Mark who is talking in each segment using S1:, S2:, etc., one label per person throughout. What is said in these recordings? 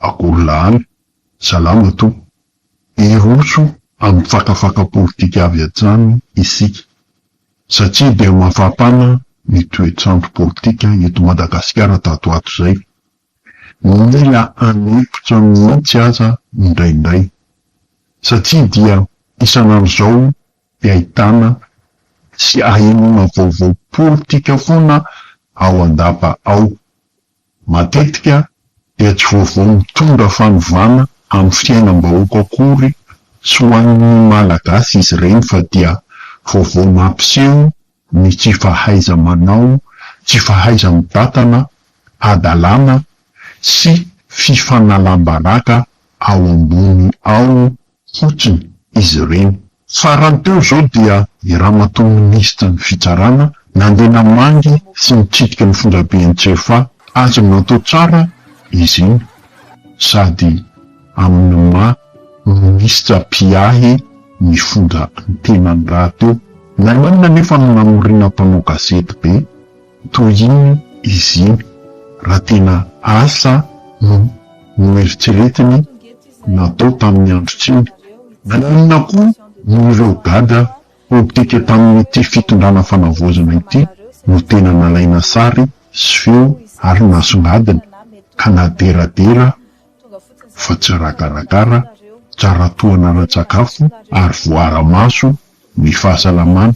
S1: Akory lany, salama to. Hiroso amin'ny fakafaka politika avy hatrany isika satria dia mafampana ny toetr'andro politika eto Madagasikara tato ato izay. Mila hanempotra mihitsy aza indraindray satria dia isan'andro izao dia ahitana sy ahenoana vaovao politika foana ao an-dapa ao. Matetika dia tsy vaovao mitondra fanovana amin'ny fiainam-bahoaka akory sy ho an'ny Malagasy izy ireny fa dia vaovao mampiseho ny tsy fahaiza-manao, tsy fahaiza-mibatana, hadalana sy fifanalam-baraka ao ambony ao fotsiny izy ireny. Farany teo izao dia i Ramatoa Minisitry ny Fitsarana nandeha namangy sy nitsidika ny fonjabe Antsefa, azony natao tsara izy iny sady amin'ny maha Minisitra mpiahy ny fonja ny tenany rahateo. Namainina anefa ny namoriana mpanao gazety be toy iny izy iny raha tena asa no noeritreretiny. natao tamin'ny andro tiany. Naninona koa no ireo gadra politika tamin'ity fitondrana fanavaozana ity no tena nalaina sary sy feo ary nasongadina ka naderadera fa tsy rakarakara, tsara tohana ara-tsakafo ary voaara-maso ny fahasalamana.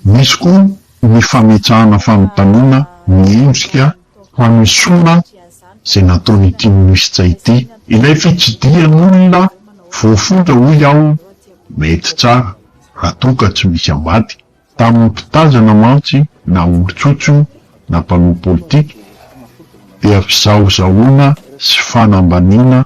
S1: Misy koa ny fametrahana fanontaniana miendrika fanesoana izay nataon'ity minisitra ity. Ilay fitsidihan'olona voafonja hoy aho mety tsara raha toa ka tsy misy ambady. Tamin'ny mpitazana mantsy na olon-tsotso io na mpanao politika dia fizahozahoana sy fanambaniana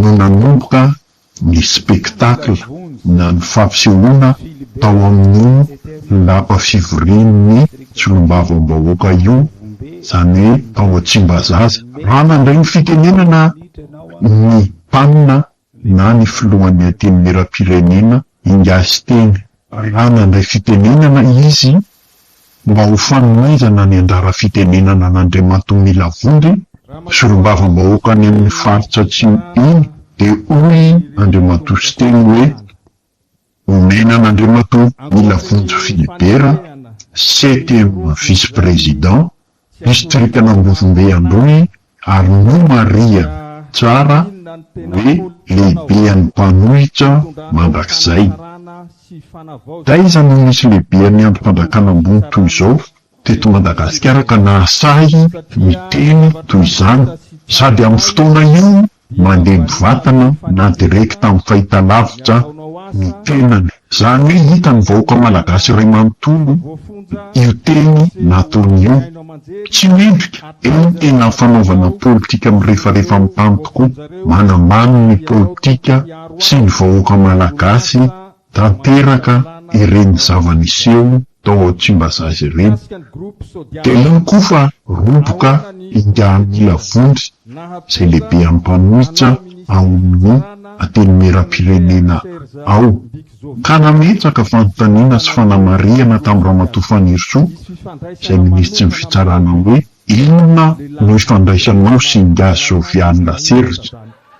S1: no nanomboka ny spectacle na ny fampisehoana tao amin'io lapa fivorian'ny solombavambahoaka io, izany hoe tao Tsimbazaza. Raha nandray ny fitenenana ny Mpanina na ny Filohan'ny Antenimierampirenena, Ingahy Siteny, raha nandray fitenenana izy mba ho fanonaizana ny anjara fitenenana an'Andriamatoa Mila Vondry, solombavambahoaka any amin'ny faritra Atsimo iny dia hoy Andriamatoa Siteny hoe, Omena an'Andriamatoa Mila Vonjy Philibert, CTM Vice-Président, distrikan'Ambozombe Androy ary nomarihany tsara hoe lehibean'ny mpanohitra mandrakizay. Taiza no nisy lehibean'ny andrim-panjakana ambony toy izao teto Madagasikara ka nahasahy niteny toy izany? Sady amin'ny fotoana io mandeha mivatana na direct amin'ny fahitalavitra ny tenany. Zany hoe hitan'ny vahoaka malagasy iray manontolo io teny nataony io. Tsy mendrika, eo ny tena fanaovana politika mirefarefa amin'ny tany tokoa, manambany ny politika sy ny vahoaka malagasy. tanteraka ireny zava-niseho tao Tsimbazaza ireny. Dia iny koa fa roboka ingahamila vondry izay lehibean'ny mpanohitra ao amin'ny Antenimierampirenena ao, ka nametraka fanontaniana sy fanamarihana tamin'ny Ramatoa Fanirisoa, izay Minisitry ny Fitsarana hoe. Inona no ifandraisanao sy Ingahy Jovial Serge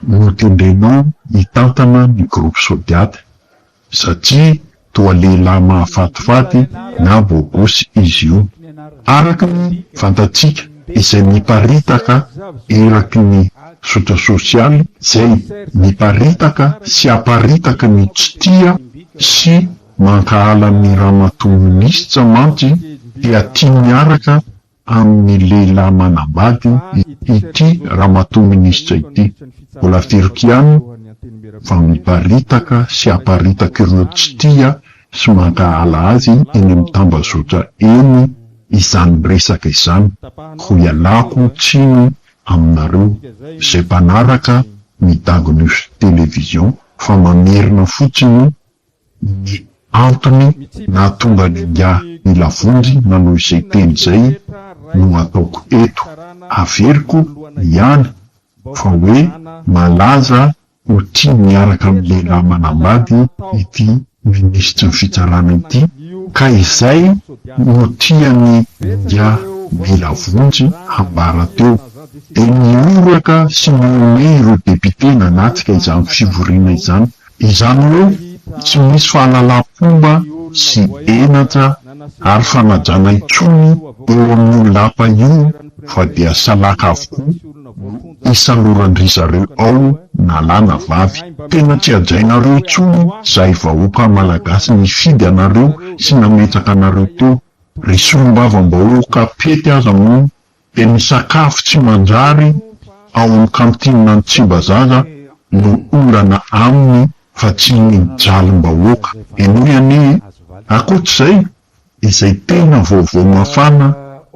S1: no tendrenao hitantana ny groupe Sodiat satria toa lehilahy mahafatifaty na bôgôsy izy io araka ny fantatsika izay miparitaka eraky ny zotra sosialy izay miparitaka sy aparitaka ny tsy tia sy Mankahala an'i Ramatoa Minisitra mantsy dia tia miaraka amin'ny lehilahy manambady ity Ramatoa Minisitra ity. Mbola firy kiany fa miparitaka sy aparitaka ireo tsy tia sy mankahala azy eny amin'ny tambazotra eny izany resaka izany. Ho ialako tsiny aminareo izay mpanaraka ny Dago News Télévision fa mamerina fotsiny ny antony nahatonga an'ingahy Nilavonjy nanao izay teny izay no ataoko eto, averiko ihany fa hoe malaza ho tia miaraka amin'ny lehilahy manambady ity minisitry ny fitsarana ity ka izay no tian'i ingahy Nilavonjy hambara teo dia nihoraka sy nihomehy ireo depite nanatrika izany fivoriana izany Izany hoe tsy misy fahalalam-pomba sy henatra ary fanajana intsony eo amin'io lapa io fa dia salaka avokoa no isaloran-dry zareo ao na lahy na vavy. Tena tsy hajainareo intsony zahay vahoaka malagasy nifidy anareo sy nametraka anareo teo. Ry solombavambahoaka pety aza moa Dia ny sakafo tsy manjary ao amin'ny kantinina ny Tsimbazaza no olana aminy fa tsy ny jalim-bahoaka. Henoy anie e! Ankoatr'izay, izay tena vaovao mafana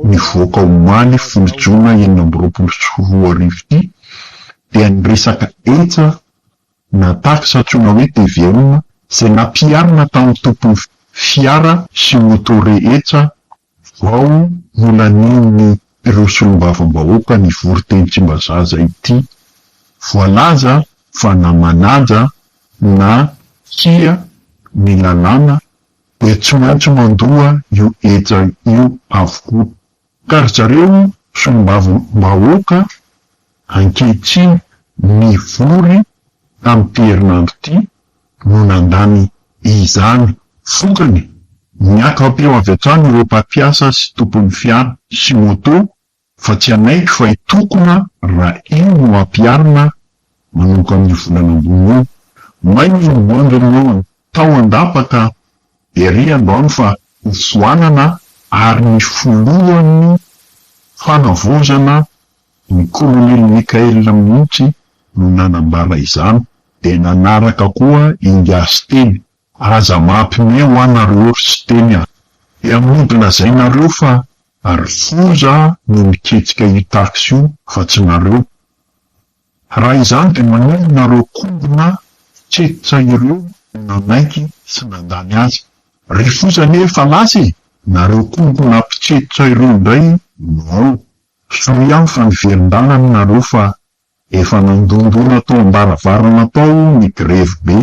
S1: nivoaka omaly folo jona enina amby roapolo sy roa arivo ity dia ny resaka hecha na taxe antsoina hoe TVA izay nampiharina tamin'ny tompon'ny fiara sy moto rehetra Vao nolanian'ny ireo solombavambahoaka nivory teny Tsimbazaza ity, voalaza fa namanaja na kia ny lalàna dia tsy maintsy mandoa io heja io avokoa. Ka ry zareo solombavambahoaka ankehitriny nivory tamin'ity herinandro ity no nandany izany vokany. Niaka-peo avy hatrany ireo mpampiasa sy tompon'ny fiara sy moto fa tsy hanaiky fa hitokona raha io no hampiharina manomboka amin'io volana ambony io. May ny hivoahan'ireo mponina tao an-dapa ka ery androany fa hofoanana ary ny filohan'ny fanavaozana Ny kolonely Mickael mihitsy no nanambara izany dia nanaraka koa i Ngiahy Siteny, Aza mampime hoa nareo ry Siteny a! Dia mody lazainareo fa ry foza no niketsika io taxi io fa tsy nareo. Raha izany dia maninona nareo kombona fitsetsa ireo nanaiky sy nandany azy? Ry foza anie efa lasa e! Nareo kombona mpitsetsa ireo indray no ao. Soa ihany fa ny velon-dalana nareo fa efa nandondona tao am-baravarana tao ny grevy be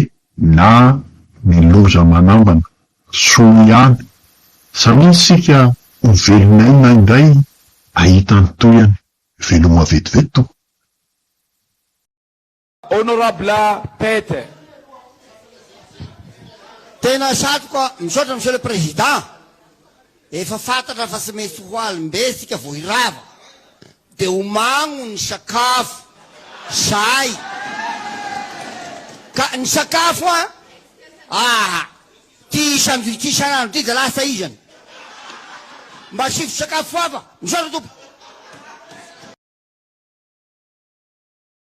S1: na ny loza manambana. Soa ihany. Samia isika ho velon'aina indray ahita ny tohiny. Veloma vetivety tompoko.
S2: Honorable Pete.
S3: Tena satroka, misaotra Monsieur le Président. Efa fantatra fa tsy maintsy ho alim-be isika vao hirava. Dia homagno ny sakafo, sahy. Ka ny sakafo an, ah, ity isan-jo ity isan'andro ity dia lasa izany. Mba asivo sakafo hafa. Misaotra tompoko.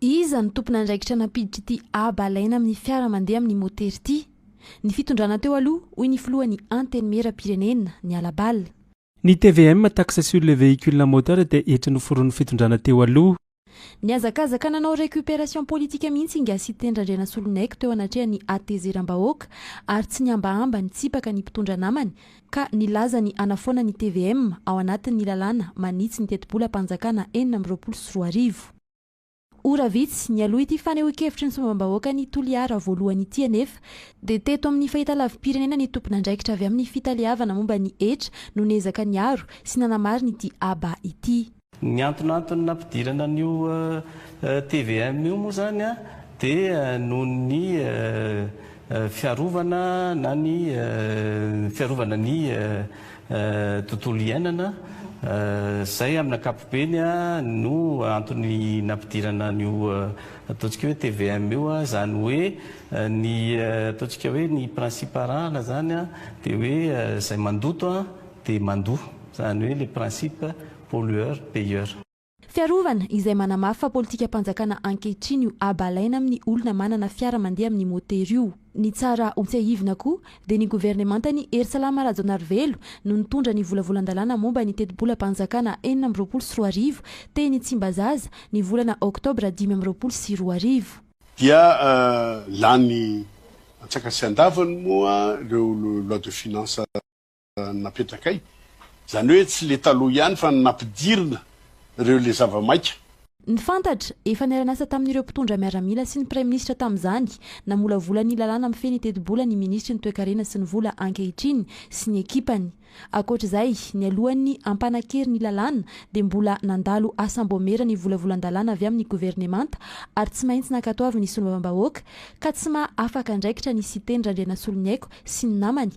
S4: Iza no tompon'andraikitra nampiditra ity haba alaina amin'ny fiara mandeha amin'ny motery ity? Ny fitondrana teo aloha, hoy ny filohan'ny Antenimieram-pirenena, ny Hala Bala. Ny tvm,
S5: taxe sur les véhicules à moteur, dia hetra noforonin'ny fitondrana teo aloha. Nihazakazaka
S4: nanao récupération politique mihitsy i Nga Siteny Randrianasoloniaiko teo anatrehan'ny hatezeram-bahoaka ary tsy nihambahamba nitsipaka ny mpitondra namany, ka nilaza ny hanafoana ny tvm ao anatin'ny lalàna manitsy ny tetibolam-panjakana enina amby roapolo sy roa arivo. Ora vitsy nialoha ity fanehoan-kevitry ny sombam-bahoakan'i Toliara voalohany ity anefa dia teto amin'ny fahitalavi-pirenena ny tompon'andraikitra avy amin'ny fitaleavana momba ny hetra no niezaka niaro sy nanamarin'ity aba ity. Ny antonantony
S6: nampidirana an'io tvm io moa izany dia noho ny fiarovana na ny fiarovana ny tontolo iainana, izay amin'ny ankapobeny no antony nampidirana an'io ataontsika hoe tvm io, izany hoe ny ataontsika hoe ny principe arahana izany dia hoe izay mandoto dia mandoa, izany hoe le principe pollueur payeur. Fiarovana,
S4: izay manamafy fa politikam-panjakana ankehitriny io haba alaina amin'ny olona manana fiara mandeha amin'ny motery io. Ny tsara ho tsiahivina koa dia ny governemantan'i Hery Salama Rajaonarivelo no nitondra ny volavolan-dalàna momba ny tetibolam-panjakana enina amby roapolo sy roa arivo teny Tsimbazaza ny volana oktobra dimy amby roapolo sy roa arivo. Dia
S7: lany antsakasiandavany moa ireo lois de finances. napetrakay, izany hoe tsy le taloha ihany fa ny nampidirina ireo le zava-maika. Ny fantatra,
S4: efa niara-niasa tamin'ireo mpitondra miaramila sy ny praiminisitra tamin'izany, namolavola ny lalàna mifehy ny tetibola ny minisitry ny toekarena sy ny vola ankehitriny sy ny ekipany. Ankoatr'izay, nialohan'ny hampanan-kery ny lalàna dia mbola nandalo asam-boamera ny volavolan-dalàna avy amin'ny governemanta ary tsy maintsy nankatoavin'ny solombavambahoaka ka tsy maha afaka andraikitra ny Siteny Randrianasoloniaiko sy ny namany